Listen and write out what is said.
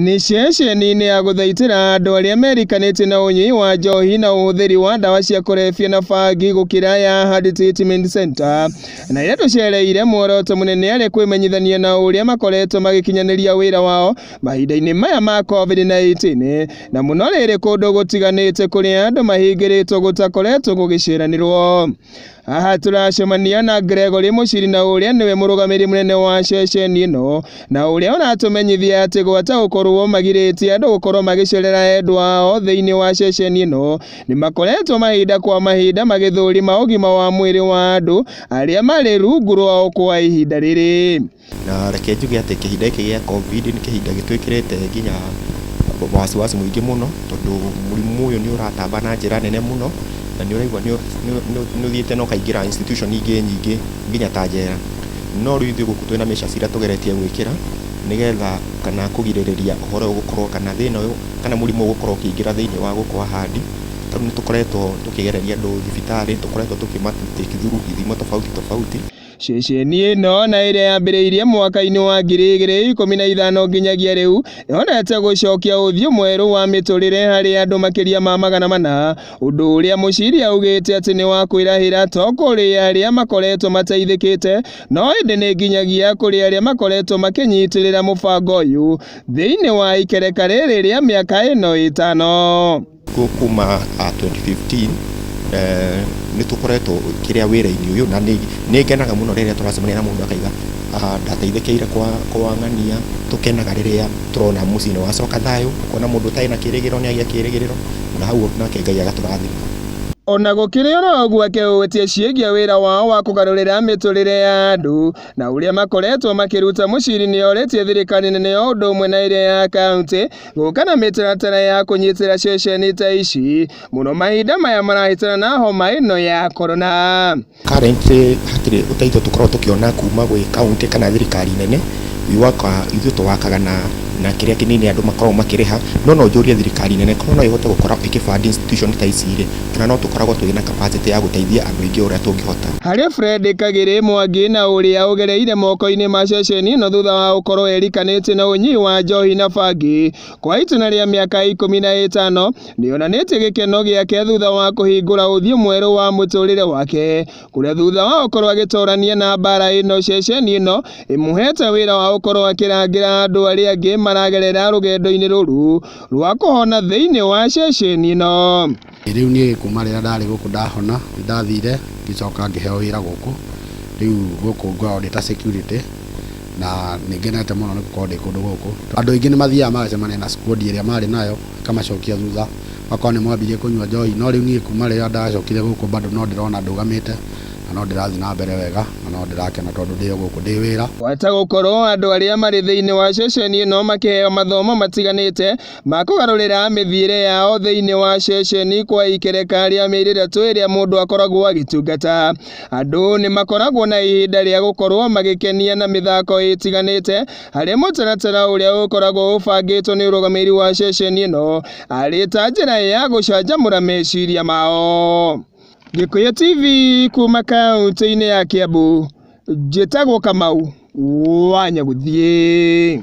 Nĩ ceceni-inĩ ya gũthaitĩra andũ arĩa merikanĩtie na ũnyui wa njohi na ũhũthĩri wa ndawa cia kũrebia na bangi gũkĩra ya Hard Treatment Center na ĩrĩa tũcereire muoroto mũnene arĩ kwĩmenyithania na ũrĩa makoretwo magĩkinyanĩria wĩra wao mahinda-inĩ maya ma COVID-19 na mũno rĩrĩ kũndũ gũtiganĩte kũrĩa andũ mahingĩrĩtwo gũtakoretwo gũgĩceranĩrwo. Haha tũracemania na Gregory Mũcirina ũrĩa nĩwe mũrũgamĩrĩri mũnene wa ceceni ĩno na ũrĩa ũratũmenyithia atĩ gwata gũkorwo magirĩtie andũ gũkorwo magĩcerera endwa ao thĩinĩ wa ceceni ĩno nĩ makoretwo mahinda kwa mahinda magĩthũrima ũgima wa mwĩrĩ wa andũ arĩa marĩ rungu rwao kwa ihinda rĩrĩ. Na reke njuge atĩ kĩhinda gĩkĩ gĩa Covid nĩ kĩhinda gĩtwĩkĩrĩte nginya wasiwasi mũingĩ mũno, tondũ mũrimũ ũyũ nĩ ũratamba na njĩra nene mũno, na nĩ ũraigua nĩ ũthiĩte na ũkaingĩra institution ingĩ nyingĩ nginya ta njera. No rĩu ithuĩ gũkũ twĩ na measures iria tũgeretie gwĩkĩra, nĩgetha kana kũgirĩrĩria ũhoro ũyũ gũkorwo kana thĩna ũyũ kana mũrimũ ũyũ gũkorwo ũkĩingĩra thĩiniĩ wa gũkũ Ahandi. Ta rĩu nĩ tũkoretwo tũkĩgereria andũ thibitarĩ, nĩ tũkoretwo tũkĩma take through ithimo tofauti tofauti. Ceceni ĩno na ĩrĩa yambĩrĩirie mwaka-inĩ wa ngiri igĩrĩ ikũmi na ithano nginyagia rĩu yonete gũcokia ũthiũ mwerũ wa mĩtũrĩre harĩ andũ makĩria ma magana mana, ũndũ ũrĩa Mũciri augĩte atĩ nĩ wa kwĩrahĩra to kũrĩ arĩa makoretwo mateithĩkĩte no ĩndĩ nĩ nginyagia kũrĩ arĩa makoretwo makĩnyitĩrĩra mũbango ũyũ thĩinĩ wa ikereka rĩrĩ rĩa mĩaka ĩno ĩtano. Guo kuma 2015 nĩ tũkoretwo kĩrĩa wĩra-inĩ ũyũ na nĩ ngenaga mũno rĩrĩa tũracemania na mũndũ akauga ndateithĩkĩire kwa ng'ania, tũkenaga rĩrĩa tũrona mũciĩ nĩ wacoka thayũ, ũkona mũndũ ũtarĩ na kĩrĩgĩrĩro nĩ agĩa kĩrĩgĩrĩro na hau ũguo nake Ngai agatũrathima. O na gũkĩrĩ o ũguo akehũtia ciĩgiĩ wĩra wao wa kũgarũrĩra mĩtũrĩre ya andũ na ũrĩa makoretwo makĩruta mũciri nĩ orĩtie thirikari nene o ũndũ ũmwe na ĩrĩa ya kauntĩ gũka na mĩtaratara ya kũnyitĩra ceceni ta ici mũno mahinda maya marahĩtana na homa ĩno ya korona. Currently hatirĩ ũteithio tũkoragwo tũkĩona kuma gwĩ kaunti kana thirikari nene, ithuĩ tũwakaga na na kĩrĩa kĩnini andũ makoragwo makĩrĩha, no no njũrie thirikari nene korwo no ĩhote gũkorwo ĩkĩ fund institution ta ici rĩ, kana no tũkoragwo tũrĩ na capacity ya gũteithia andũ aingĩ o ũrĩa tũngĩhota. Harĩ Fred Kagĩrĩ Mwangi na ũrĩa ũgereire moko-inĩ ma ceceni ĩno thutha wa gũkorwo erikanĩtie na ũnyui wa njohi na bangi kwa itĩna rĩa mĩaka ikũmi na ĩtano, nĩonanĩtie gĩkeno gĩake thutha wa kũhingũra ũthiũ mwerũ wa mũtũrĩre wake. kũrĩa thutha wa gũkorwo agĩtorania na mbara ĩno ceceni ĩno ĩmũhete wĩra wa gũkorwo akĩrangĩra andũ arĩa angĩ maragerera rũgendo-inĩ rũrũ rwa kũhona thĩinĩ wa ceceni ĩno. Rĩu niĩ kuma rĩrĩa ndarĩ gũkũ ndahona nĩ ndathire ngĩcoka ngĩheo wĩra gũkũ, rĩu gũkũ ngoragwo ndĩ ta security na nĩ ngenete mũno nĩ gũkorwo ndĩ kũndũ gũkũ. Andũ aingĩ nĩ mathiaga magacemania na squad ĩrĩa marĩ nayo. ngamacokia thutha, magakorwo nĩ mwambirie kũnyua njohi, no rĩu niĩ kuuma rĩrĩa ndacokire gũkũ bado no ndĩrona ndũgamĩte, na no ndĩrathiĩ na mbere wega, na no ndĩrakena tondũ ndĩ o gũkũ ndĩ wĩra. Gwata gũkorwo andũ arĩa marĩ thĩinĩ wa ceceni ĩno makĩheo mathomo matiganĩte ma kũgarũrĩra mĩthiĩre yao thĩinĩ wa ceceni kwa ikereka rĩa mĩeri ĩtatũ ĩrĩa mũndũ akoragwo agĩtungata. Andũ nĩ makoragwo na ihinda rĩa gũkorwo magĩkenia na mĩthako ĩtiganĩte, harĩ mũtaratara ũrĩa ũkoragwo ũbangĩtwo nĩ ũrũgamĩrĩri wa ceceni ĩno arĩ ta njĩra ya gũcanjamũra meciria mao. Gĩkũyũ TV kuma kaunti-inĩ ya Kiambu, njĩtagwo Kamau wa Nyagũthiĩ.